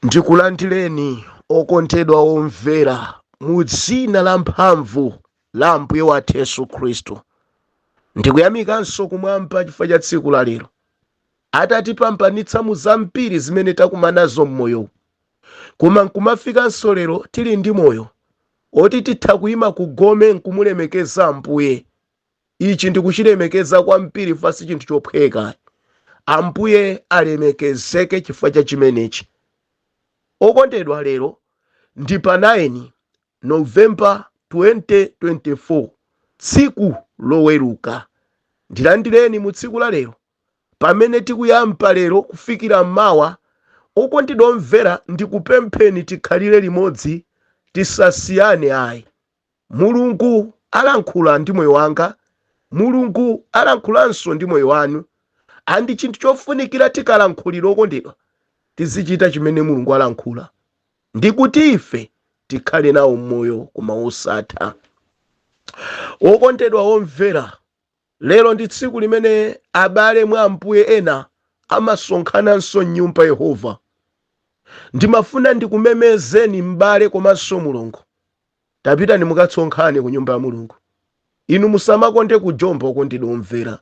Ndikulandireni, okondedwa omvera, mu dzina la mphamvu la Ambuye wathu Yesu Khristu. Ndikuyamikanso kumwamba chifukwa cha tsiku la lero. Atatipambanitsa mu zambiri zimene takumanazo m'moyowu, koma nkumafikanso lero tili ndi moyo oti titha kuyima ku gome nkumulemekeza Ambuye. Ichi ndikuchilemekeza kwambiri chifukwa sichinthu chophweka ayi. Ambuye alemekezeke chifukwa cha chimenechi. Okondedwa lero ndi pa 9 November 2024 tsiku loweruka. Ndilandireni mu tsiku la lero pamene tikuyamba lero kufikira mawa. Okondedwa omvera ndikupempheni tikhalire limodzi tisasiyane ayi. Mulungu alankhula ndi moyo wanga, Mulungu alankhulanso ndi moyo wanu and chinthu chofunikira tikalankhulira okondedwa tizichita chimene Mulungu alankhula ndikuti ife tikhale nawo moyo koma wosatha. Okondedwa omvera Lero ndi tsiku limene abale mwa Ambuye ena amasonkhananso m'nyumba Yehova. Ndimafuna ndikumemezeni m'bale komanso mulongo. Tapitani mukasonkhane ku nyumba ya Mulungu. Inu musamakonde kujomba okondedwa omvera.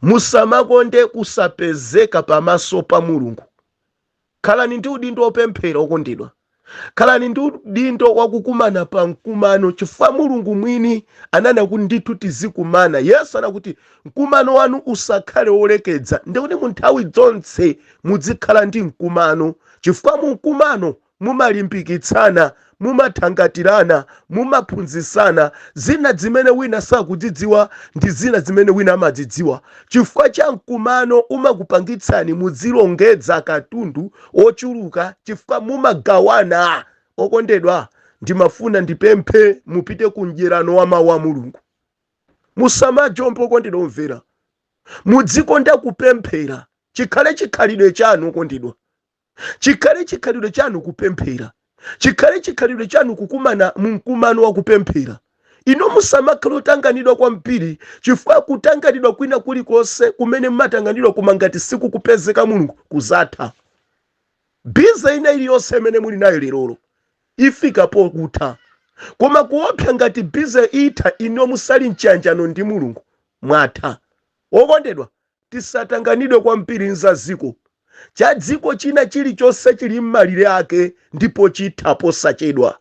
Musamakonde kusapezeka pamaso pa Mulungu. khalani ndi udindo wopemphera okondedwa khalani ndi udindo wakukumana pa mkumano chifukwa mulungu mwini ananena kuti ndithu tizikumana yesu anakuti mkumano wanu usakhale wolekeza ndikuti mu nthawi zonse mudzikhala ndi mkumano chifukwa mu mkumano mumalimbikitsana mumathangatirana, mumaphunzitsana zina zimene wina sakuzidziwa ndi zina zimene wina amazidziwa chifukwa cha mkumano umakupangitsani mudzilongedza katundu wochuluka chifukwa mumagawana okondedwa ndimafuna ndipemphe mupite ku mdyerano wa mawu a mulungu musamajombe okondedwa omvera mudzikonda kupemphera chikhale chikhalidwe chanu okondedwa chikhale chikhalidwe chanu kupemphera chikhale chikhalidwe chanu kukumana mu mkumano wa kupemphera inu musamakhale otanganidwa kwambiri chifukwa kutanganidwa kwina kulikonse kumene mumatanganidwa koma ngati sikukupezeka mulungu kuzatha bize ina iliyonse imene muli nayo lerolo ifika pokutha koma kuopsa ngati bize itha inu musali mchiyanjano ndi mulungu mwatha okondedwa Tisatanganidwe kwambiri n'za dziko. Cha dziko china chilichonse chili mmalire ake ndipo chitha posachedwa.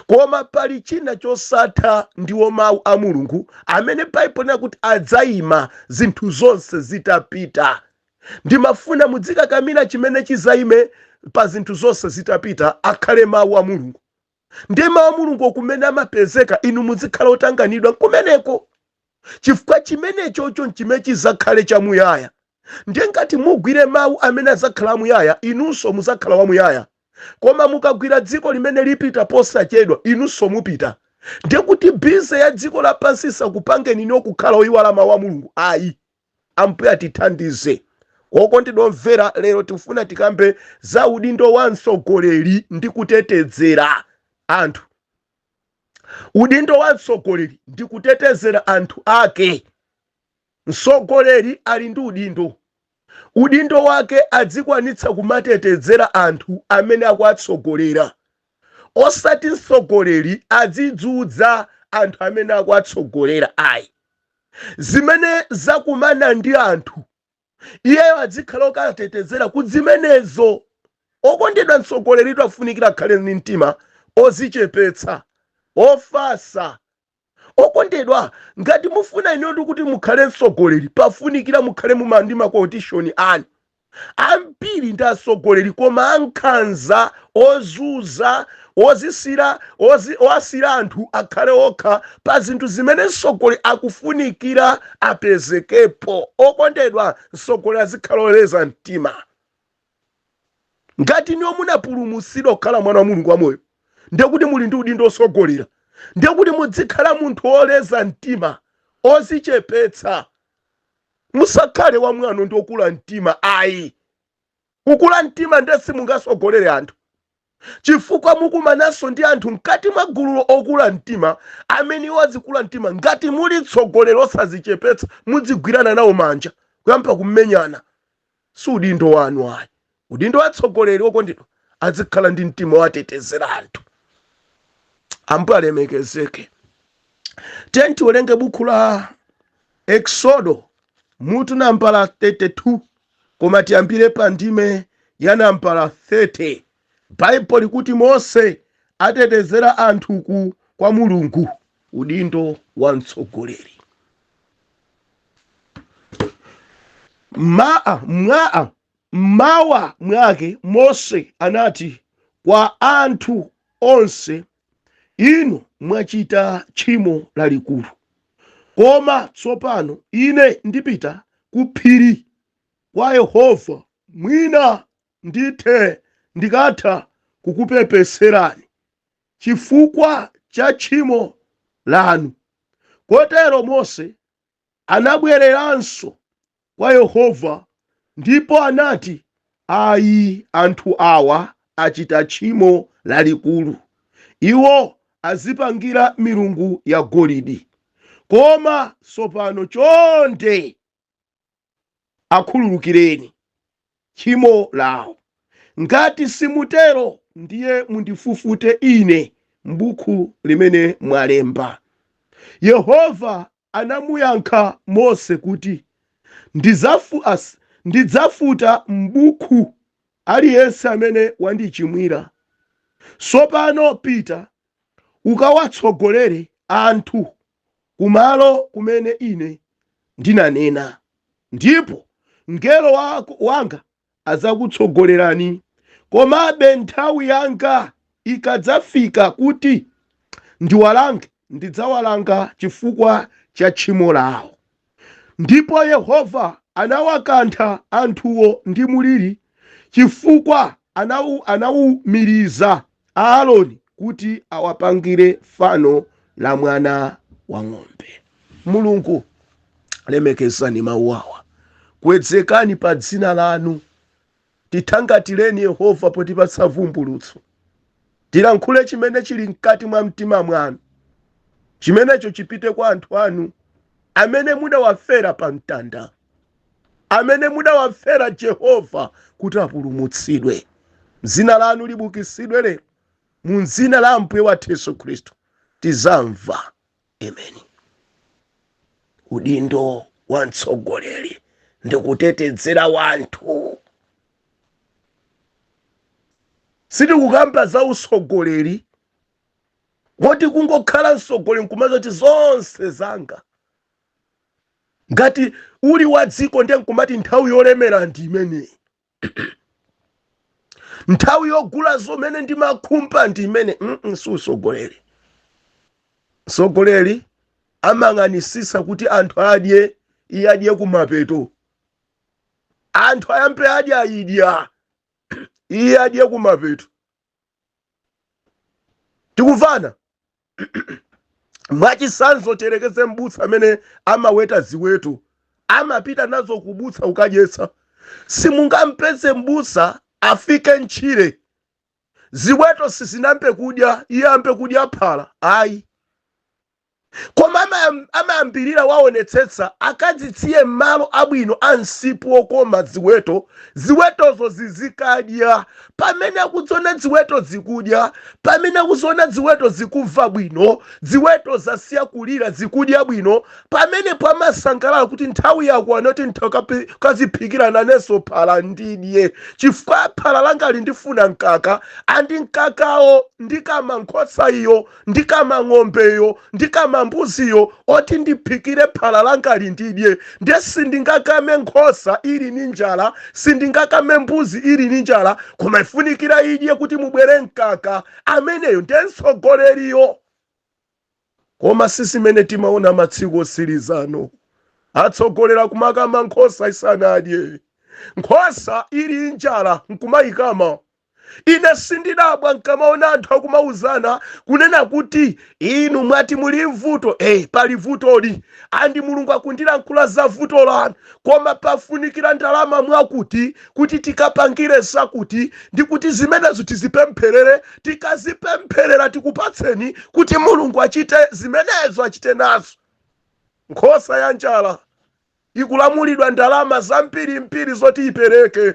Koma pali china chosatha ndiwo mau a Mulungu amene Baibulo linati kuti adzaima zinthu zonse zitapita. Ndimafuna mudzikakamira chimene chizaime pa zinthu zonse zitapita akhale mau a Mulungu. ndiye mawu a mulungu kumene amapezeka inu muzikhala otanganidwa kumeneko chifukwa chimenechocho nchimene chizakhale chamuyaya ndiye ngati mugwire mawu amene azakhala amuyaya inunso muzakhala wamuyaya koma mukagwira dziko limene lipita posachedwa inunso mupita ndiye kuti bize ya dziko lapansi isakupangeni inuyo kukhala oyiwala mawu a mulungu ayi Ambuye atithandize. Okondedwa omvera, lero tikufuna tikambe za udindo wa mtsogoleri ndi kutetezera anthu. Udindo wa mtsogoleri ndi kutetezera anthu ake. Mtsogoleri ali ndi udindo. Udindo wake adzikwanitsa kumatetezera anthu amene akuwatsogolera. Osati mtsogoleri adzizunza anthu amene akuwatsogolera ayi. zimene zakumana ndi anthu iyeyo adzikhala okatetezera ku zimenezo okondedwa mtsogoleri afunikira akhale ndi mtima ozichepetsa ofatsa okondedwa ngati mufuna inutu kuti mukhale mtsogoleri pafunikira mukhale muma ndi makotishoni anu Ambiri ndi atsogoleri koma ankhanza, ozunza, ozisira, ozi, owasira anthu akhale okha pa zinthu zimene mtsogoleri akufunikira apezekepo. Okondedwa, mtsogoleri azikhala oleza mtima. Ngati inuyo munapulumutsidwa kukhala mwana wa Mulungu wamoyo, ndiye kuti muli ndi udindo otsogolera, ndiye kuti mudzikhala munthu oleza mtima, ozichepetsa. musakhale wamwano ndi okula mtima ayi kukula mtima nde simungatsogolere anthu chifukwa mukumananso ndi anthu mkati mwa gululo okula mtima amene iwo azikula mtima ngati muli mtsogoleri osazichepetsa mudzigwirana nawo manja kuyamba kumenyana Si udindo wanu ayi. Udindo wa mtsogoleri okondedwa azikhala ndi mtima owatetezera anthu. Ambuye alemekezeke. Tiyeni tiwerenge buku la Eksodo mutu nambala 32 koma tiyambire pa ndime ya nambala 30. Baibulo likuti Mose atetezera anthu ku kwa Mulungu. Udindo wa mtsogoleri ma mwa m'mawa mwake Mose anati kwa anthu onse, Inu mwachita tchimo lalikulu. Koma tsopano ine ndipita ku phiri kwa Yehova, mwina Ndithe ndikatha kukupepeserani chifukwa cha tchimo lanu. Kotero Mose anabwereranso kwa Yehova ndipo anati, Ayi, anthu awa achita tchimo lalikulu. Iwo adzipangira milungu yagolidi. Koma tsopano chonde. akhululukireni tchimo lawo. Ngati simutero, ndiye mundifufute ine m'buku limene mwalemba. Yehova anamuyankha Mose kuti, Ndizafu, as, Ndidzafuta m'buku aliyense amene wandichimwira. Tsopano pita ukawatsogolere anthu ku malo kumene ine ndinanena, ndipo mngelo wa, wanga adzakutsogolerani. Komabe nthawi yanga ikadzafika kuti ndiwalange, ndidzawalanga chifukwa cha tchimo lawo. Ndipo Yehova anawakantha anthuwo ndi mliri chifukwa anawu, anawumiriza Aaroni kuti awapangire fano la mwana wa ng'ombe. Mulungu, lemekezani mawu awa, kwezekani pa dzina lanu. Tithangatireni Yehova potipatsa vumbulutso. Tilankhule chimene chili mkati mwa mtima mwanu. Chimenecho chipite kwa anthu anu amene mudawafera pa mtanda, amene mudawafera Jehova kuti apulumutsidwe. Dzina lanu libukitsidwe lero mu dzina la Ambuye wathu Yesu Khristu. Tizamva. Amen. Udindo wa mtsogoleri ndi kutetezera wanthu. Sitikukamba za utsogoleri woti kungokhala mtsogoleri nkumati zonse zanga ngati uli wa dziko ndiye nkumati nthawi yolemera ndi imeneyi nthawi yogula zomene ndimakhumba ndi imeneyi mm -mm, si utsogoleri mtsogoleri amayang'anitsitsa kuti anthu adye iye adye kumapeto anthu ayambe adya idya iye adye kumapeto tikumvana mwachisanzo tiyerekeze m'busa amene amaweta ziweto amapita nazo kubusa kukadyetsa simungampeze m'busa afike m'tchire ziweto sizinayambe kudya iye ayambe kudya phala ayi koma amayam- amayambirira waonetsetsa akazisiye m'malo abwino a msipu wokoma ziweto ziwetozo zizikadya pamene akuziona ziweto zikudya pamene akuziona ziweto zikumva bwino ziweto zasiya kulira zikudya bwino pamenepo amasangalala kuti nthawi yakwana yoti nkadziphikire nanenso phala ndidye chifukwa phala langali ndifuna mkaka andi mkakawo ndikama nkhosa iyo ndikama ng'ombeyo ndikama mbuziyo oti ndiphikire phala langali ndidye ndiye sindingakame nkhosa ili ni njala sindingakame mbuzi ili ni njala koma ifunikira idye kuti mubwere mkaka ameneyo ndiye mtsogoleriyo koma si zimene timaona masiku otsirizano atsogoleri kumakama nkhosa isanadye nkhosa ili njala nkumayikama Ine sindidabwa nkamaona anthu akumauzana kunena kuti inu mwati muli m'vuto eh pali vutoli and Mulungu akundilankhula za vuto lanu koma pafunikira ndalama mwakuti kuti tikapangire zakuti ndi kuti zimenezo tizipempherere tikazipempherera tikupatseni kuti Mulungu achite zimenezo achite nazo nkhosa ya njala ikulamulidwa ndalama zambirimbiri zoti ipereke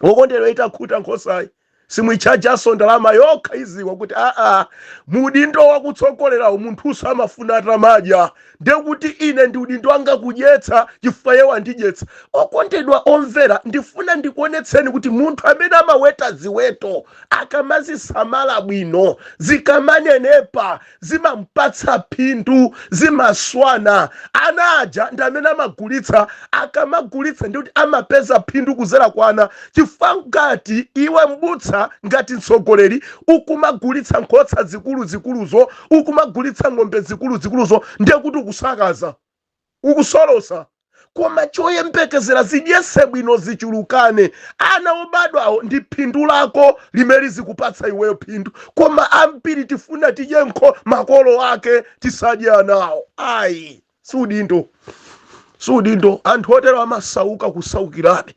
okondedwa itakhuta nkhosayi simuitchajanso ndalama yokha idziwa kuti aa mudindo wakutsogolerawo munthunso amafuna atamadya ndiye kuti ine ndi udindo wanga kudyetsa chifukwa iye wandidyetsa okondedwa omvera ndifuna ndikuonetseni kuti munthu amene amaweta ziweto akamazisamala bwino zikamanenepa zimampatsa phindu zimaswana ana aja ndi amene amagulitsa akamagulitsa ndi kuti amapeza phindu kudzera kwa ana chifukwa ngati iwe m'busa ngati mtsogoleri ukumagulitsa nkhosa zikuluzikuluzo ukumagulitsa ng'ombe zikuluzikuluzo ndiye kuti ukusakaza ukusolosa koma choyembekezera zidyetse bwino zichulukane ana obadwawo ndi phindu lako limene zikupatsa iweyo phindu koma ambiri tifuna tidye nkho makolo ake tisadye anawo ayi si udindo si udindo anthu otero amasauka kusaukirabe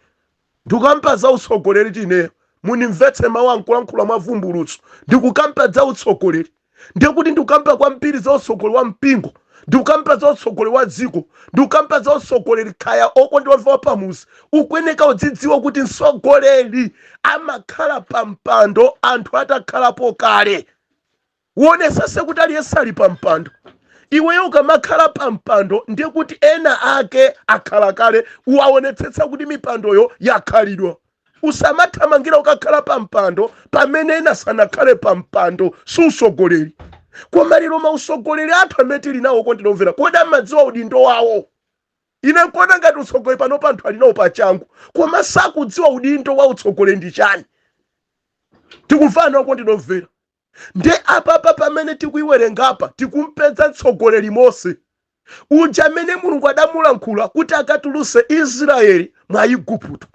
Ndikukamba za utsogoleritu ineyo. Mundimvetse mawu nkulankhula mwa vumbulutso. Ndikukamba za utsogoleri. Ndiye kuti ndikukamba kwambiri za utsogoleri wa mpingo. Ndikukamba za utsogoleri wa dziko. Ndikukamba za utsogoleri kaya okondedwa wa pamudzi. Ukuyeneka udzidziwa kuti mtsogoleri amakhala pa mpando anthu atakhalapo kale. Uonesese kuti aliyense ali pa mpando. Iweyo ukamakhala pa mpando ndiye kuti ena ake akhala kale. Uwaonetsetsa kuti mipandoyo yakhalidwa. Usamathamangila kukakhala pa mpando pamene ena sanakhale pa mpando. Si usogoleli. Koma lelo mausogoleli athu amene tili nawo okondedwa omvela, kodi amadziwa udindo wawo? Ine nkuona ngati utsogoleli panopa anthu ali nawo pachangu, koma sakudziwa udindo wa utsogoleli ndi chani. Tikumvana okondedwa omvela? Nde apapa pamene tikuiwerengapa tikumpeza mtsogoleri Mose uja amene Mulungu adamulankhula kuti akatuluse Israeli mwa Iguputo.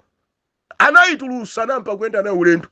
Anaitulusa nampa kuyenda nayo ulendo.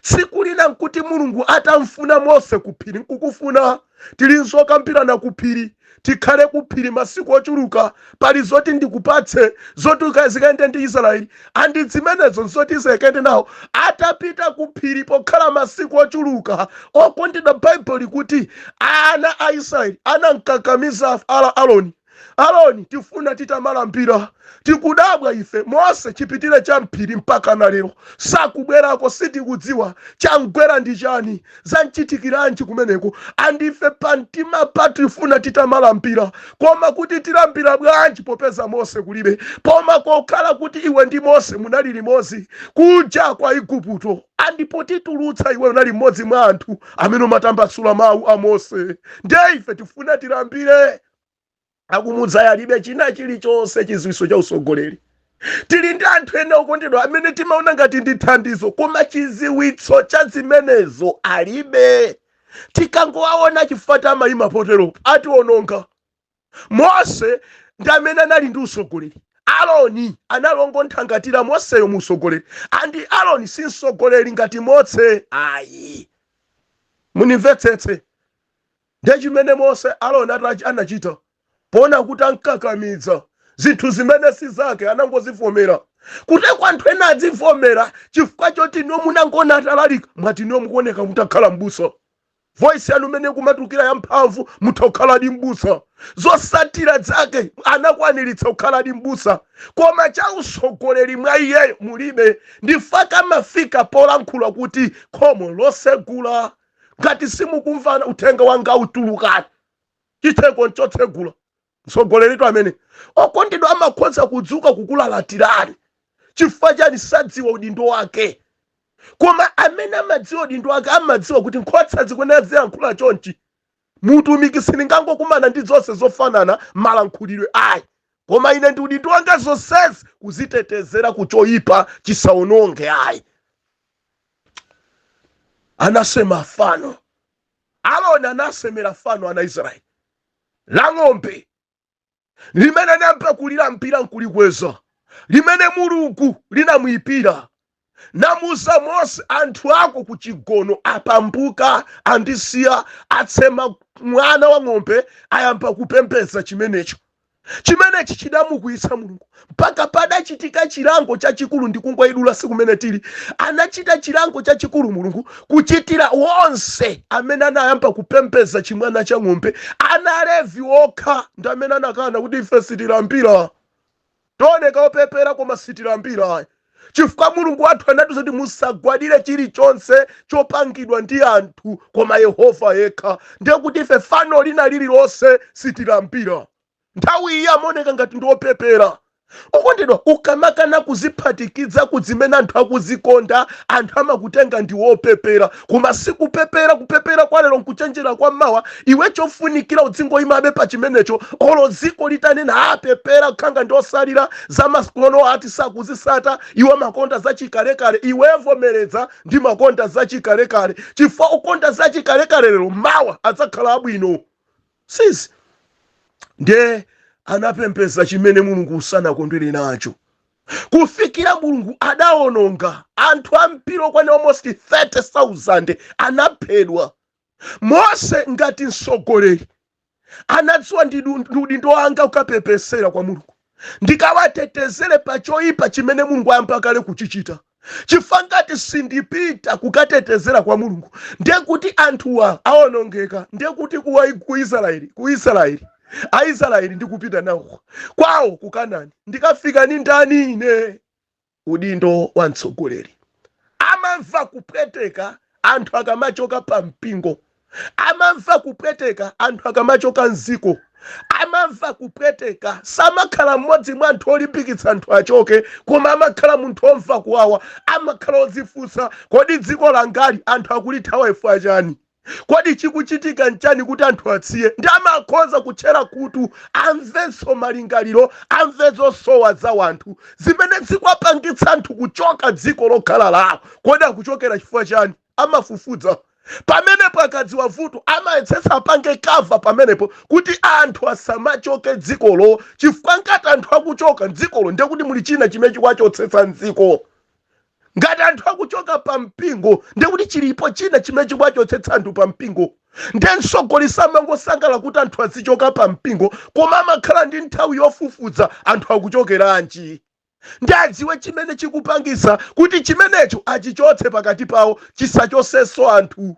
Tsiku lina nkuti Mulungu atamfuna Mose kuphiri nkukufuna tili nzokambirana kuphiri. tikhale ku phiri masiku ochuluka pali zoti ndikupatse zoti uka- zikayende ndi israeli and zimenezo nzoti zikayende nawo atapita ku phiri pokhala masiku ochuluka okondedwa baibulo likuti ana a israeli anamkakamiza aroni aroni tifuna titamalambira tikudabwa ife mose chipitire cha mphiri mpaka na lero sakubwerako sitikudziwa chamgwera ndi chani zanchitikiranji kumeneko and ife pantima pathu tifuna titamalambira koma kuti tilambira bwanji popeza mose kulibe koma pokhala kuti iwe ndi mose munali limodzi kuja kwa igupto and potitulutsa iwe unali mmodzi mwa anthu amene umatambasula mawu a mose ndiye ife tifuna tilambire akumudzayo alibe china chilichonse chiziwiso cha utsogoleri tili ndi anthu ena okondedwa amene timaona ngati ndi thandizo koma chiziwitso cha zimenezo alibe tikangowaona chifukwa atamayima poteropo atiwononga mose ndi amene anali ndi utsogoleri aroni anali ongonthangatira moseyo mu utsogoleri and aroni si mtsogoleri ngati mose ayi munimvetsetse Ndiye chimene Mose, Aroni anachita, poona kuti amkakamiza zinthu zimene si zake, anangozivomera. Kuteroko anthu ena adzivomera chifukwa choti inuyo munangoona atalalika, mwati inuyo mukuoneka mutha kukhala m'busa. Voice yanu imene ikumatulukira ya mphamvu, mutha kukhaladi m'busa. Zosatira zake, anakwaniritsa kukhaladi m'busa, koma cha utsogoleri mwa iyeyo mulibe. Ndi chifukwa chake amafika polankhula kuti khomo lotsegula ngati simukumva uthenga wanga utulukani chitseko nchotsegula mtsogoleritu amene okondedwa amakhoza kudzuka kukulalatirani chifukwa chani sadziwa udindo wake koma amene amadziwa udindo wake amadziwa kuti nkhosa zikuyenera ziyankhula chonchi Muutumiki sindingangokumana ndi zonse zofanana malankhulidwe ayi, koma ine ndi udindo wanga zonsezi kuzitetezera ku choipa chisaononge ayi. Anasema fano Aroni anasemera fano ana Israeli la ng'ombe. limene anayamba kulilambira nkulikweza limene mulungu linamuyipira namuuza mose anthu ako ku chigono apambuka andisiya asema mwana wa ng'ombe ayamba kupembedza chimenecho chimenechi chidamukwiyitsa mulungu mpaka padachitika chilango chachikulu ndikungoyidula si kumene tili anachita chilango chachikulu mulungu kuchitira wonse amene anayamba kupembedza chimwana cha ng'ombe ana levi okha ndi amene anakana kuti ife sitilambira tioneka opepera koma sitilambira chifukwa mulungu wathu anatiuza kuti musagwadire chilichonse chopangidwa ndi anthu koma yehova yekha ndiye kuti ife fano lina lililonse sitilambira nthawi iyi amaoneka ngati ndi opepera okondedwa ukamakana kuziphatikiza ku zimene anthu akuzikonda anthu amakutenga ndi wopepera koma sikupepera kupepera kwa lero nkuchenjera kwa mawa iwe chofunikira udzingoyimabe pa chimenecho olo dziko litanena apepera khanga ndi otsalira za masiku ano ati sakuzisata iwo amakonda zachikalekale iwe vomereza ndimakonda zachikalekale chifukwa okonda zachikalekale lero mawa adzakhala abwino sizi ndiye anapembedza chimene mulungu sanakondwere nacho kufikira mulungu adawononga anthu ambiri okwana almost 3000 anaphedwa mose ngati mtsogoleri anadziwa ndi udindo wanga kukapepesera kwa mulungu ndikawatetezere pa choyipa chimene Mulungu ayamba kale kuchichita. Chifukwa ngati sindipita kukatetezera kwa Mulungu, ndiye kuti anthuwa awonongeka, ndiye kuti ku Israeli, ku Israeli Aisraeli ndikupita nawo kwawo ku Kanani, ndikafikako ndi ndani ine? udindo wa mtsogoleri amamva kupweteka anthu akamachoka pa mpingo amamva kupweteka anthu akamachoka mziko amamva kupweteka samakhala mmodzi mwa anthu olimbikitsa anthu achoke koma amakhala munthu omva kuwawa amakhala odzifunsa kodi dziko langali anthu akulithawa chifukwa chani Kodi chikuchitika n'chani kuti anthu atsiye? Nde amakhoza kutchera khutu, amvenso malingaliro, amve zosowa za wanthu, zimene zikwapangitsa anthu kuchoka dziko lokhala lawo. Kodi akuchokera chifukwa chiyani? Amafufudza pamenepo, akadziwa vuto, amayetsetsa apange cover pamenepo kuti anthu asamachoke dzikolo, chifukwa ngati anthu akuchoka m'dzikolo ndiye kuti muli china chimene chikuwachotsetsa m'dziko. ngati anthu akuchoka pa mpingo ndekuti chilipo china chimene chikuwachotsetsa anthu pa mpingo nde msogoleri samangosangalala kuti anthu azichoka pa mpingo koma amakhala ndi nthawi yofufuza anthu akuchokeranji nde adziwe chimene chikupangisa kuti chimenecho achichotse pakati pawo chisachosenso anthu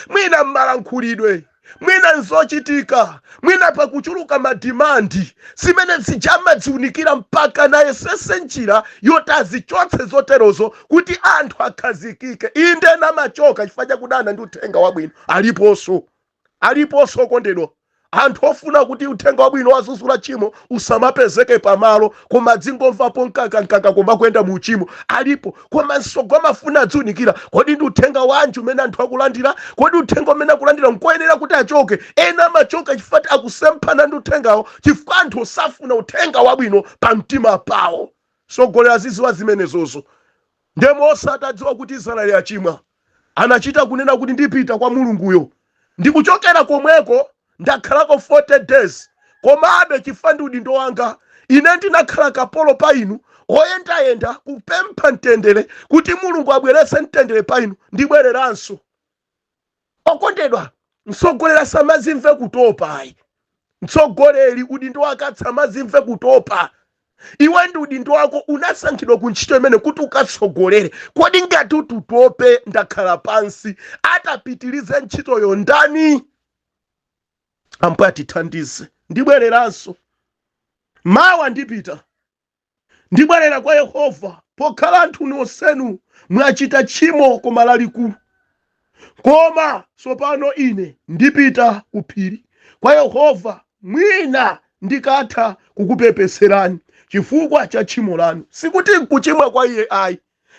mwina m'malankhulidwe mwina nzochitika mwina pakuchuluka madimandi zimene zija amadziunikira mpaka ayesese njira yoti azichotse zoterozo kuti anthu akhazikike inde ena amachoka chifukwa chakudana ndi uthenga wabwino aliponso aliponso okondedwa anthu ofuna kuti uthenga wabwino wodzudzula tchimo usamapezeke pamalo koma adzingomvapo mkakamkaka koma kuyenda mu uchimo alipo koma msogoleri amafuna adziunikira kodi ndi uthenga wanji umene anthu akulandira kodi uthenga umene akulandira nkoyenera kuti achoke ena amachoka chifukwa ti akusemphana ndi uthengawo chifukwa anthu osafuna uthenga wabwino pa mtima pawo msogoleri aziziwa zimenezozo Ndiye Mose atadziwa kuti Israeli achimwa, anachita kunena kuti, Ndipita kwa Mulunguyo. Ndikuchokera komweko ndakhalako 40 days. Komabe chifukwa ndi udindo wanga, ine ndinakhala kapolo pa inu, oyendayenda kupempha mtendere kuti Mulungu abweretse mtendere pa inu, ndibwereranso. okondedwa mtsogoleri asamazimve kutopa ayi mtsogoleri udindo wake asamazimve kutopa iwe ndi udindo wako unasankhidwa ku ntchito imene kuti ukatsogolere kodi ngati utatope n'kukhala pansi atapitirize ntchitoyo ndani ambuye atithandize ndibwereranso mawa ndipita Ndibwerera kwa Yehova, pokhala anthu nonsenu mwachita tchimo koma lalikulu. Koma tsopano ine ndipita ku phiri kwa Yehova, mwina ndikatha kukupepetserani chifukwa cha tchimo lanu. Sikuti n'kuchimwa kwa iye ayi,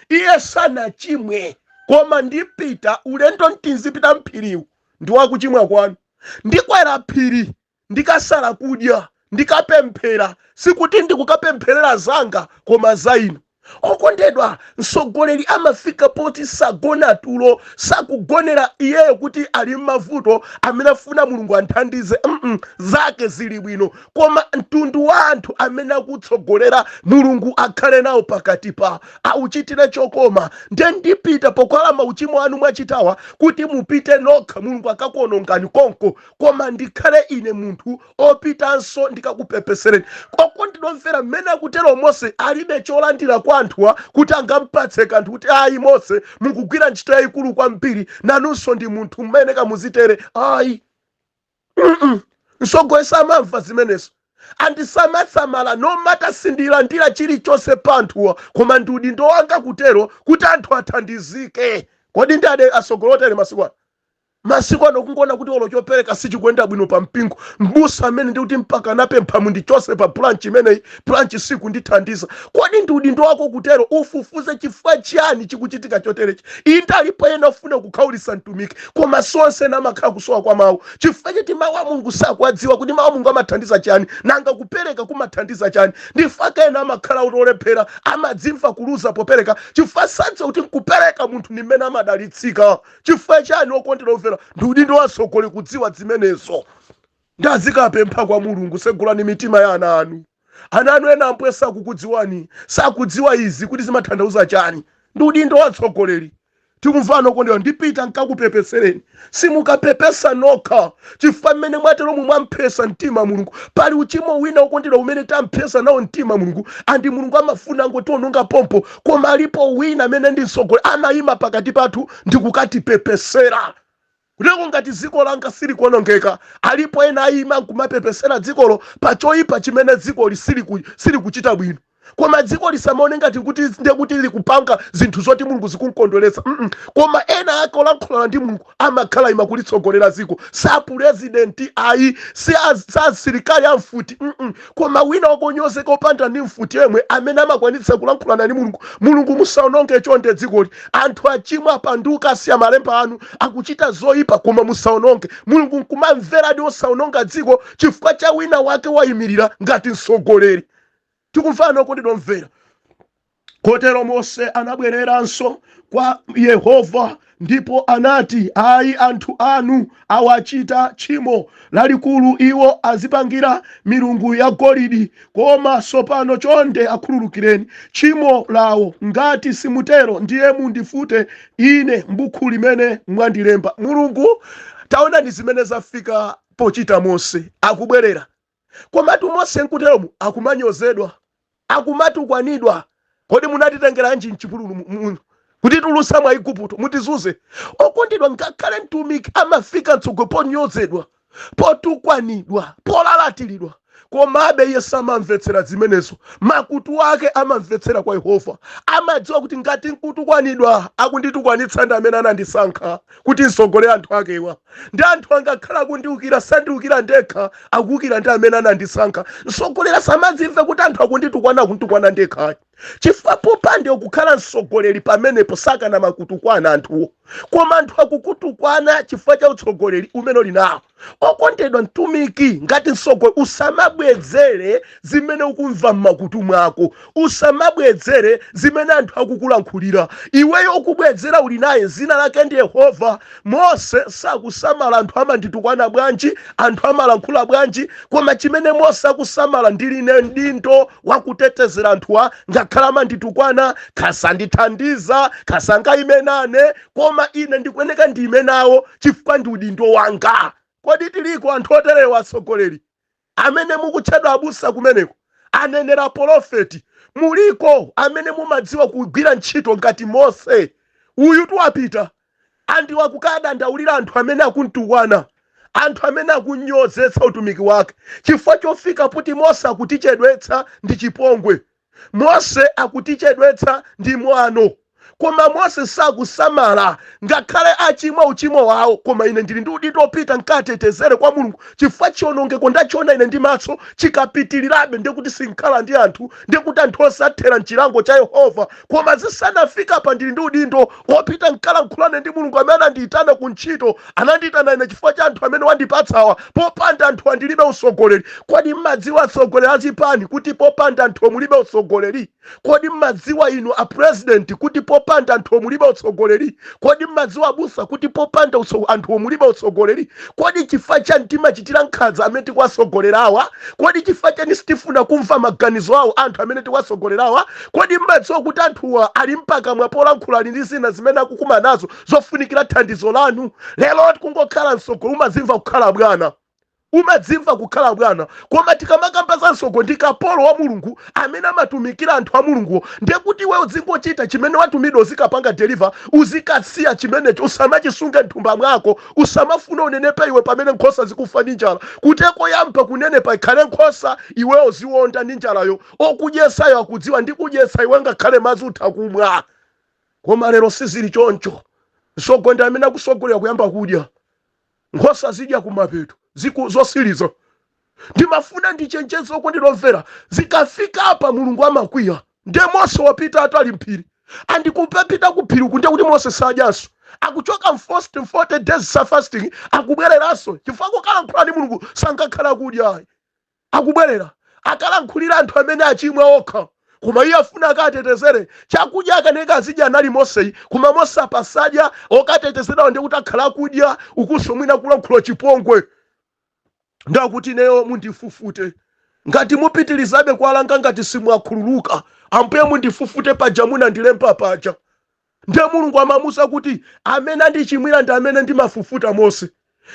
iye sanachimwe, koma ndipita ulendo n'tinzipita m'phiriwu ndi wa kuchimwa kwanu. Ndikwera phiri ndikasala kudya, ndikapemphera, sikuti ndikukapempherera zanga koma za inu. Okondedwa, mtsogoleri amafika poti sagona tulo, sakugonera iyeyo kuti ali m'mavuto amene afuna Mulungu anthandize. Mm, zake zili bwino, koma mtundu wa anthu amene akutsogolera, Mulungu akhale nawo pakati pa auchitire chokoma. Nde ndipita pokhala mauchimo anu mwachitawa kuti mupite nokha, Mulungu akakuonongani konko. koma ndikhale ine munthu opitanso ndikakupepesereni okondedwa omvera mmene akutero mose alibe cholandira kwa anthuwa kuti angampatse kanthu kuti ayi mose mukugwira ntchito yayikulu kwambiri nanunso ndi munthu mmene kamuzitere ayi Mm-mm. mtsogoleri samamva zimenezo andisamale asandisamale no matter sindilandira chilichonse pa anthuwa koma ndi udindo wanga kutero kuti anthu athandizike kodi ndi angati atsogoleri otere masiku ano Masiku ano kungoona kuti olo chopereka sichikuyenda bwino pa mpingo, m'busa amene ndiye kuti mpaka kukapempha mundichose pa branch imeneyi, branch sikundithandiza. Kodi ndi udindo wako kutero? Ufufuze chifukwa chiyani chikuchitika choterechi. Inde alipo ena ofuna kukhaulitsa mtumiki, koma si onse ena amakhala kusowa kwa mau. Chifukwa choti mau a Mulungu sakuwadziwa kuti mau a Mulungu amathandiza chiyani, nanga kupereka kumathandiza chani. N'chifukwa chake ena amakhala oti olephera, amadzimva kuluza popereka chifukwa sadziwa kuti nkupereka munthu ndi m'mene amadalitsika. chifukwa chani okondedwa omvera ndi udindo wa mtsogoleri kudziwa zimenezo ndiye azikapempha kwa mulungu segulani mitima ya ana anu ana anu ena ambuye sakukudziwani sakudziwa izi kuti zimatanthauza chani ndi udindo wa mtsogoleri tikumvana okondedwa ndipita nkakupepesereni simukapepesa nokha chifukwa mmene mwateromu mwampsetsa mtima mulungu pali uchimo wina okondedwa umene tampsetsa nawo mtima mulungu and mulungu amafuna angotiononga pompo koma alipo wina amene ndi mtsogoleri amayima pakati pathu ndi kukatipepesera koteroko ngati dziko langa silikuonongeka alipo ena ayima nkumapepesera dzikolo pa choyipa chimene dzikoli siliku- silikuchita bwino koma dziko lisamaone ngati kuti ndiye kuti likupanga zinthu zoti mulungu zikumkondweretsa mm koma ena ake olankhulana ndi mulungu amakhala aima kulitsogolera dziko si apulezidenti ayi si az- si asilikali a mfuti mm koma wina wake onyozeka opanda ndi mfuti yemwe amene amakwanitsa kulankhulana ndi mulungu mulungu musaononge chonde dzikoli anthu achimwa apanduka asiya malemba anu akuchita zoyipa koma musaononge mulungu nkumamveradi osaononga dziko chifukwa cha wina wake wayimirira ngati mtsogoleri Tikumvana okondedwa omvera. Kotero Mose anabwereranso kwa Yehova ndipo anati, Ayi, anthu anuwa achita tchimo lalikulu. Iwo azipangira milungu yagolidi. Koma tsopano chonde akhululukireni tchimo lawo. Ngati simutero, ndiye mundifute ine m'buku limene mwandilemba. Mulungu. Taonani zimene zafika pochita Mose akubwerera. Komatu Mose nkuteromu akumanyozedwa, akumatukwanidwa. Kodi munatitengeranji m'chipululu mu- mu- kutitulutsa mwa Igupto mutizunze? Okondedwa, ngakhale mtumiki amafika mtsogolo ponyozedwa, potukwanidwa, polalatiridwa. Komabe iye samamvetsera zimenezo. Makutu ake amamvetsera kwa Yehova. Amadziwa kuti ngati nkutukwanidwa, akunditukwanitsa ndi amene anandisankha. kuti nsogolere anthu akewa ndi anthu angakhale akundiukira sandiukira ndekha akuukira ndi amene anandisankha mtsogoleri asamadzimve kuti anthu akunditukwana akunditukwana ndekha ayi chifukwa popanda iwe kukhala mtsogoleri pamenepo sakanamakutukwana anthuwo koma anthu akukutukwana chifukwa cha utsogoleri umene uli nawo okondedwa mtumiki ngati msogoleri usamabwezere zimene ukumva m'makutu mwako usamabwezere zimene anthu akukulankhulira iweyo okubwezera uli naye dzina lake ndi yehova mose sakusamala anthu amanditukwana bwanji anthu amalankhula bwanji koma chimene mose akusamala ndili ndi udindo wakutetezera anthuwa ngakhale amanditukwana kaya sandithandiza kaya sangaime nane koma ine ndikuyeneka ndiime nawo chifukwa ndi udindo wanga kodi tiliko anthu oterewa atsogoleri amene mukutchedwa abusa kumeneko anenera polofeti muliko amene mumadziwa kugwira ntchito ngati mose uyu tuwapita ndi wa kukadandaulira anthu amene akuntukwana anthu amene akunyozetsa utumiki wake chifukwa zofika poti mose akutichedwetsa ndi chipongwe Mose akutichedwetsa ndi mwano, koma Mose sakusamala ngakhale achimwa uchimo wawo, koma ine ndili ndi udindo opita nkawatetezere kwa Mulungu chifukwa chionongeko ndachiona ine ndi matso, chikapitilirabe ndekuti sinkhala ndi anthu, ndekuti anthu onse athera mchilango cha Yehova, koma zisanafike apa ndili ndi udindo opita nkalankhulane ndi Mulungu amene anandiitana ku ntchito, anandiitana ine chifukwa cha anthu amene wandipatsawa popanda anthuwa ndilibe utsogoleri kodi mmadziwa atsogoleri azipani kuti popanda anthu mulibe utsogoleri kodi mmadziwa inu a president kuti popanda anthu mulibe utsogoleri kodi mmadziwa abusa kuti popanda utso- anthu mulibe utsogoleri kodi chifukwa chani timachitira nkhanza amene tikuwatsogolerawa kodi chifukwa chani sitifuna kumva maganizo awo anthu amene tikuwatsogolerawa kodi mmadziwa kuti anthuwa ali mpakamwa polankhula ali ndi zina zimene akukumana nazo zofunikira thandizo lanu lero kungokhala mtsogo umadzimva kukhala bwana umadzimva kukhala bwana koma tikamakamba za mtsogo ndi kapolo wa mulungu amene amatumikira anthu a mulunguwo ndiye kuti iwe udzingochita chimene watumidwa uzikapanga deliver uzikasiya chimenecho usamachisunge mthumba mwako usamafuna unenepe iwe pamene nkhosa zikufa ndi njala kutheka oyamba kunenepa ikhale nkhosa iwe uziwonda ndi njalayo okudyetsayo akudziwa ndi kudyetsa iwe ngakhale madzi utha kumwa Koma lero sizili choncho. Mtsogo ndi amene akutsogolera kuyamba kudya. Nkhosa zidya kumapeto, ziku, zotsiriza. Ndimafuna ndichenjeze okondedwa omvera, zikafika apa Mulungu amakwiya. Ndiye Mose wapitatu ali m'phiri. And kupita ku phiri uku ndiye kuti Mose sadyanso. Akuchoka m'fasting, 40 days za fasting, akubwereranso chifukwa kukalankhula ndi Mulungu sangakhale akudya ayi. akubwerera, akalankhulira anthu amene achimwa okha koma iye afuna akawatetezere chakudya akaneka azidya anali moseyu koma mose apa sadya okatetezedwawo ndiye kuti akhala akudya ukunso mwina akulankhula chipongwe ndiye akuti ineyo mundifufute ngati mupitilizabe kuwalanga ngati simwakhululuka ambuye mundifufute paja munandilemba paja Ndiye Mulungu amamuuza kuti, Amene andichimwira ndi amene ndimafufuta Mose.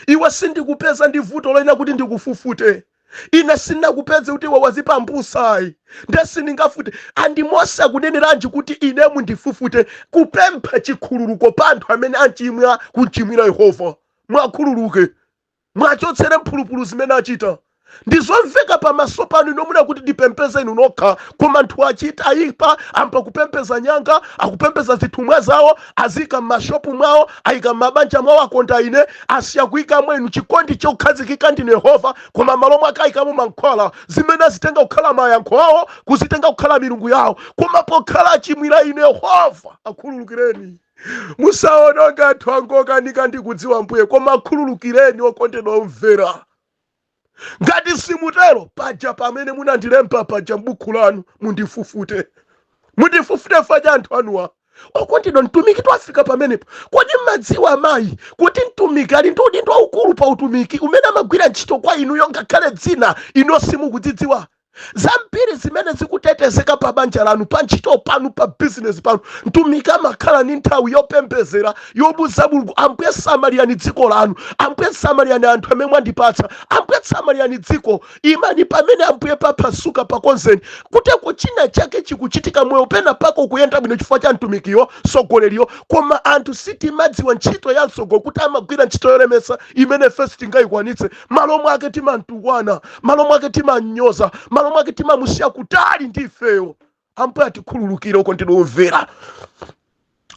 Iwe sindikupeza ndi vuto loyenera kuti ndikufufute. Ine sindinakupeze kuti iwe wadzipambutsa ayi. Ndiye sindingafute. And Mose akuneneranji kuti ine mundifufute? Kupempha chikhululuko pa anthu amene anchimwa, kunchimwira Yehova. Mwakhululuke. Mwachotsere mphulupulu zimene achita. Ndizomveka pamaso panu inu mufuna kuti ndipembedze inu nokha, koma anthu achita ayipa ayamba kupembedza nyanga, akupembedza zithumwa zawo, aziyika m'mashopu mwawo, ayika m'mabanja mwawo akondaine, asiya kuyikamo inu chikondi chokhazikika ndi inu yehova, koma m'malo mwake ayikamo mankhwala, zimene azitenga kukhala mayankho awo kuzitenga kukhala milungu yawo, koma pokhala achimwira inu yehova, akhululukireni. musaononge anthu angokanika ndikudziwa ambuye koma akhululukireni okondedwa omvera ngati simutero paja pamene munandilemba paja m'buku lanu mundifufute mundifufute chifukwa cha anthu anuwa okondedwa mtumiki twafika pamenepo kodi mmadziwa amayi kuti mtumiki ali ndi udindo waukulu pa utumiki umene amagwira ntchito kwa inuyo ngakhale zina inu simukuzidziwa zambiri zimene zikutetezeka pa banja lanu pa ntchito panu pa bizinesi panu mtumiki amakhala ndi nthawi yopembedzera yomuuza mulungu ambuye samalirani dziko lanu ambuye samalirani anthu amene mwandipatsa ambuye samalirani dziko imani pamene ambuye paphasuka pakonzeni kutheka china chake chikuchitika moyo pena pake ukuyenda bwino chifukwa cha mtumikiyo mtsogoleriyo koma anthu sitimadziwa ntchito ya mtsogo kuti amagwira ntchito yolemetsa imene ife sitingayikwanitse malo mwake timamtukwana malo mwake timamnyoza malo mwake timamusiya kutali ndi ifeyo ambuye atikhululukire okondedwa omvera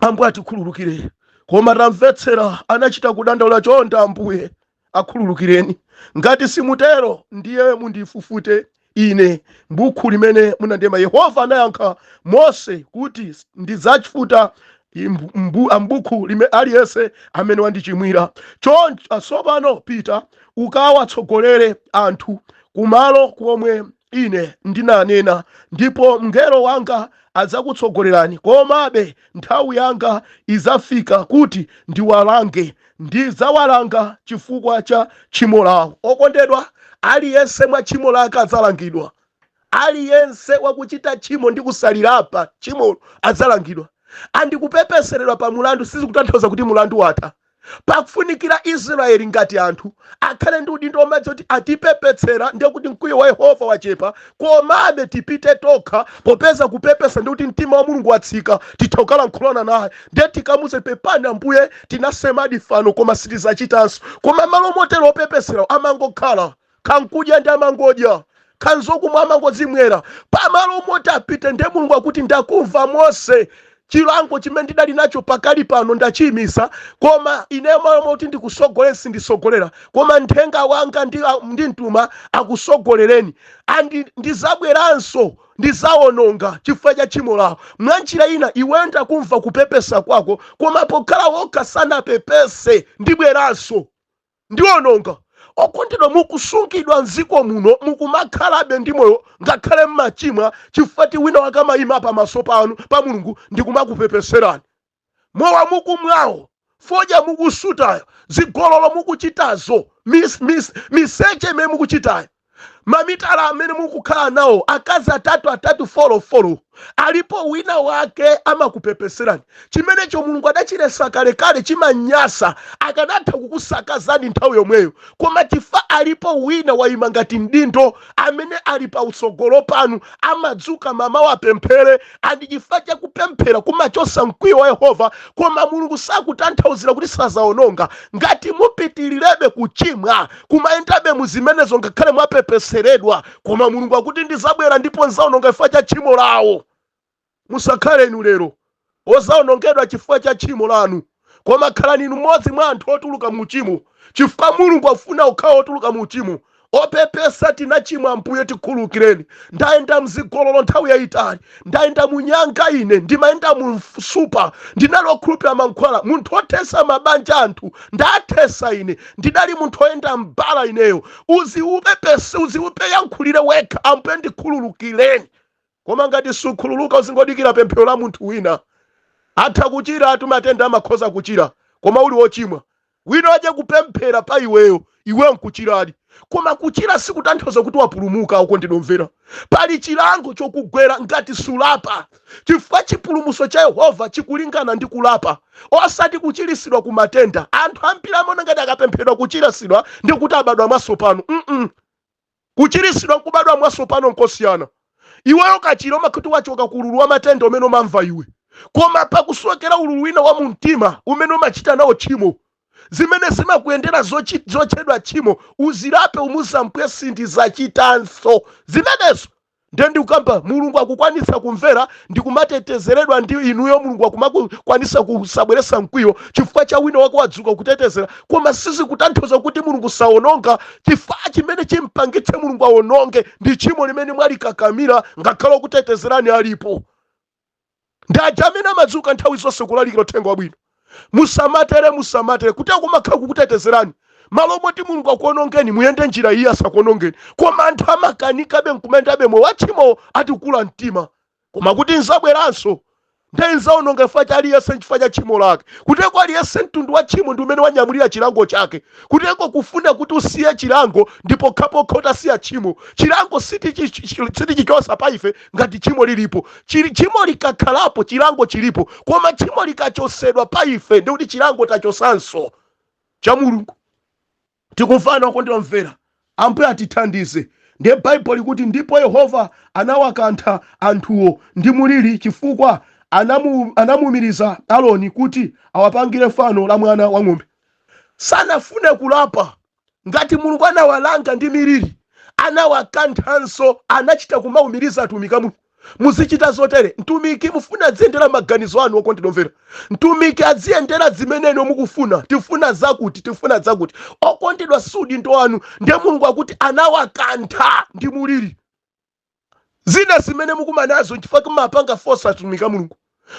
ambuye atikhululukire koma tamvetsera anachita kudandaula chonda ambuye akhululukireni ngati simutero ndiye mundifufute ine m'buku limene munalemba yehova anayankha mose kuti ndidzafufuta m'bu- m'bu- a m'buku lime aliyense amene wandichimwira choncho tsopano pita ukawatsogolere anthu kumalo komwe ine ndinanena ndipo mngelo wanga adzakutsogolerani komabe nthawi yanga idzafika kuti ndiwalange Ndidzawalanga chifukwa cha tchimo lawo. Okondedwa, aliyense mwa tchimo lake adzalangidwa. Aliyense wakuchita tchimo ndi kusalilapa tchimolo adzalangidwa. And kupepeseredwa pa mulandu sizikutanthauza kuti mulandu watha. Pakufunikira Israyeli ngati anthu akhale ndi udindo womadziwa kuti atipepesera ndiye kuti mkwiyo wa yehova wachepa komabe tipite tokha popeza kupepesa ndi kuti mtima wa mulungu watsika titha kukalankhulana naye ndiye tikamuze pepani ambuye tinasemadi fano koma sitizachitanso koma m'malo motero opepeserawo amangokhala kaya nkudya nde amangodya kaya nzokumwa amangodzimwera pamalo moti apite nde mulungu akuti ndakumva mose chilango chimene ndidali nacho pakali pano ndachiyimisa koma ineyo m'malo moti ndikusogolere sindisogolera koma nthenga wanga ndi, ndimtuma akusogolereni andi ndizabweranso ndizawononga chifukwa cha tchimo lawo mwa njira ina iweyo ndakumva kupepesa kwako koma pokhala okha sanapepese ndibweranso ndiononga. Okondedwa mukusungidwa mziko muno mukumakhalabe ndi moyo ngakhale mmachimwa chifukwa choti wina wake amayima pa maso panu pa Mulungu ndikumakupepeserani. Mowa mukumwawo, fodya mukusutayo, zigololo mukuchitazo, mis, mis, miseche imene mukuchitayo. mamitala amene mukukhala nawo akazi atatu atatu folo folo alipo wina wake amakupepeserani chimenecho mulungu adachiletsa kalekale chimanyasa akanatha kukusakazani nthawi yomweyo koma chifa alipo wina wayima ngati mdindo amene ali pa utsogolo panu amadzuka mmamawa apemphere and chifukwa cha kupemphera kumachotsa mkwiyo wa yehova koma mulungu sakutanthauzira kuti sazaononga ngati mupitilirebe kuchimwa kumayendabe muzimenezo ngakhale mwapepeseredwa koma mulungu akuti ndizabwera ndipo nzaononga chifukwa cha tchimo lawo musakhale inu lero ozaonongedwa chifukwa cha tchimo lanu koma khalani inu mmodzi mwa anthu otuluka mu uchimo, chifukwa Mulungu afuna okhawo otuluka mu uchimo. Opepesa, tinachimwa Ambuye, tikhululukireni. Ndayenda m'zigololo nthawi yayitali, ndayenda mu nyanga ine, ndimayenda mu msupa, ndinali okhulupira mankhwala, munthu othesa mabanja a anthu, ndathesa ine, ndidali munthu oyenda mbala ineyo. Uzipepese, uziyankhulire wekha, Ambuye ndikhululukireni. Koma ngati sukhululuka uzingodikira pemphero la munthu wina. Atha kuchiratu matenda amakhoza kuchira koma uli ochimwa. Wina adze kupemphera pa iweyo, iweyo nkuchiradi. Koma kuchira sikutanthauza kuti wapulumuka okondedwa omvera. Pali chilango chokugwera ngati sulapa chifukwa chipulumuso cha Yehova chikulingana ndi kulapa osati kuchirisidwa ku matenda. Anthu ambiri amaona ngati akapempheredwa kuchirisidwa ndekuti abadwa mwatsopano mm. Kuchiritsidwa, kubadwa mwatsopano nkosiyana. Iweyo ukachira umakhala kuti wachoka ku ululu wa matenda umene umamva iwe. Koma pakusowekera ululu wina wa mu mtima umene umachita nawo tchimo. Zimene zimakuyendera zotchedwa tchimo uzilape umuuze Ambuye sindizachitanso zimenezo. Ndiye ndikukamba mulungu akukwanitsa kumvera ndikumatetezeredwa ndi inuyo mulungu akumakwanisa kusabweresa mkwiyo chifukwa cha wina wake wadzuka kutetezera koma sizikutanthauza kuti mulungu saononga chifukwa chimene chimpangitse mulungu aononge ndi tchimo limene mwalikakamira ngakhale okutetezerani alipo ndi aja amene amadzuka nthawi zonse kulalikira uthenga wabwino musamatere musamatere kuti akumakhala kukutetezerani malo moti mulungu akuonongeni muyende njira iyi asakuonongeni koma anthu amakanikabe nkumayendabe moyo watchimowo ati kula mtima koma kuti nzabweranso nde nzaononga chifukwa cha aliyense nchifukwa cha tchimo lake kuteko aliyense mtundu wa tchimo ndi umene wanyamulira chilango chake kuteko kufuna kuti usiye chilango ndi pokhapokha utasiya tchimo chilango sitichichosa pa ife ngati tchimo lilipo tchimo likakhalapo chilango chilipo koma tchimo likachosedwa pa ife ndikuti chilango tachosanso cha mulungu tikumvana okondedwa omvera ambuye atithandize ndiye baibulo likuti ndipo yehova anawakantha anthuwo ndi muliri chifukwa anamuumiriza aroni kuti awapangire fano la mwana wa ng'ombe sanafune kulapa ngati mulungu anawalanga ndi miliri anawakanthanso anachita kumaumiriza atumiki a mulungu muzichita zotere mtumiki mufuna adziyendera maganizo anu okondedwa omvera mtumiki adziyendera zimene inu mukufuna tifuna zakuti tifuna zakuti okondedwa si udindo wanu ndiye mulungu akuti anawakantha ndi muliri zina zimene mukumanazo nchifukwa choti mumapanga force atumiki a mulungu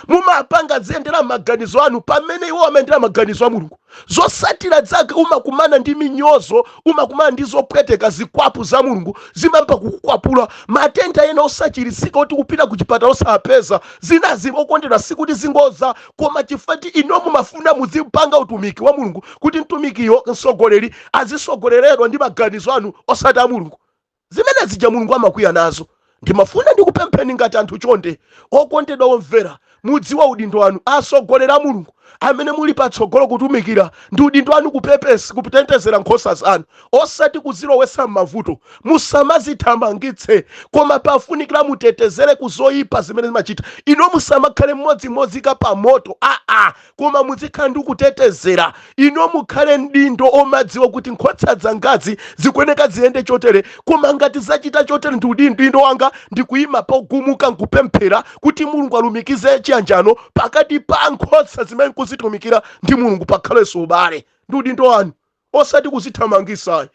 mumapanga aziyendera maganizo anu pamene iwo amayendera maganizo a mulungu zosatira zake umakumana ndi minyozo umakumana ndi zopweteka zikwapu za mulungu zimayamba kukukwapula matenda ena osachiritsika oti kupita ku chipatala osapeza zinazi okondedwa si kuti ndi ngozi koma chifukwa ti inu mumafuna muzipanga utumiki wa mulungu kuti mtumikiyo mtsogoleri azisogoleredwa ndi maganizo anu osati a mulungu Zimene zija mulungu amakwiya nazo. Ndimafuna ndikupempheni ngati anthu chonde okondedwa omvera mudziwe udindo wanu atsogoleri a mulungu amene muli patsogolo kutumikira ndi udindo wanu kutetezera nkhosa zanu osati kuzilowetsa mmavuto musamazithamangitse koma pafunikila mutetezere kuzoyipa zimene zimachita inuyo musamakhale mmodzi mozika pamoto aa koma muzikhala ndi kutetezera inu mukhale mdindo omadziwa kuti nkhotsa zangazi zikuyeneka ziyende chotere koma ngati zachita chotere ndi udindo wanga ndikuyima pogumuka nkupemphera kuti mulungu alumikize chiyanjano pakati pa nkhotsa zimene nkuzitumikira ndi mulungu pakhalenso ubale ndi udindo wanu osati kuzithamangisayi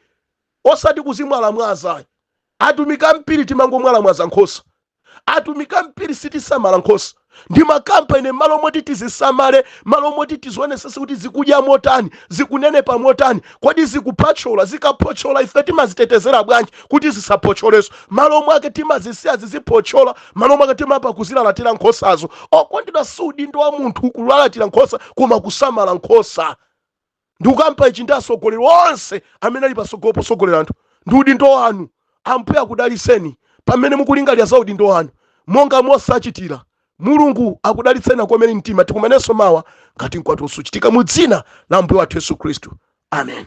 osati kuzimwalamwazayi atumiki ambiri timangomwalamwaza nkhosa atumiki ambiri sitisamala nkhosa ndimakamba ine malo moti tizisamale malo moti tizionesese kuti zikudya motani zikunenepa motani kodi zikuphotchola zikaphotchola ife timazitetezera bwanji kuti zisaphotcholeso malo mwake timazisiya ziziphotchola malo mwake timayamba kuzilalatira nkhosazo okondedwa si udindo wa munthu kulalatira nkhosa koma kusamala nkhosa ndikukamba ichi ndi asogoleri onse amene ali pasogolo posogolera anthu ndi udindo wanu ambuye akudaliseni pamene mukulingalira za udindo wanu monga mose anachitira mulungu akudalitseni akukomereni mtima tikumanenso mawa ngati mkwatulo suchitika mu dzina la ambuye wathu yesu khristu amen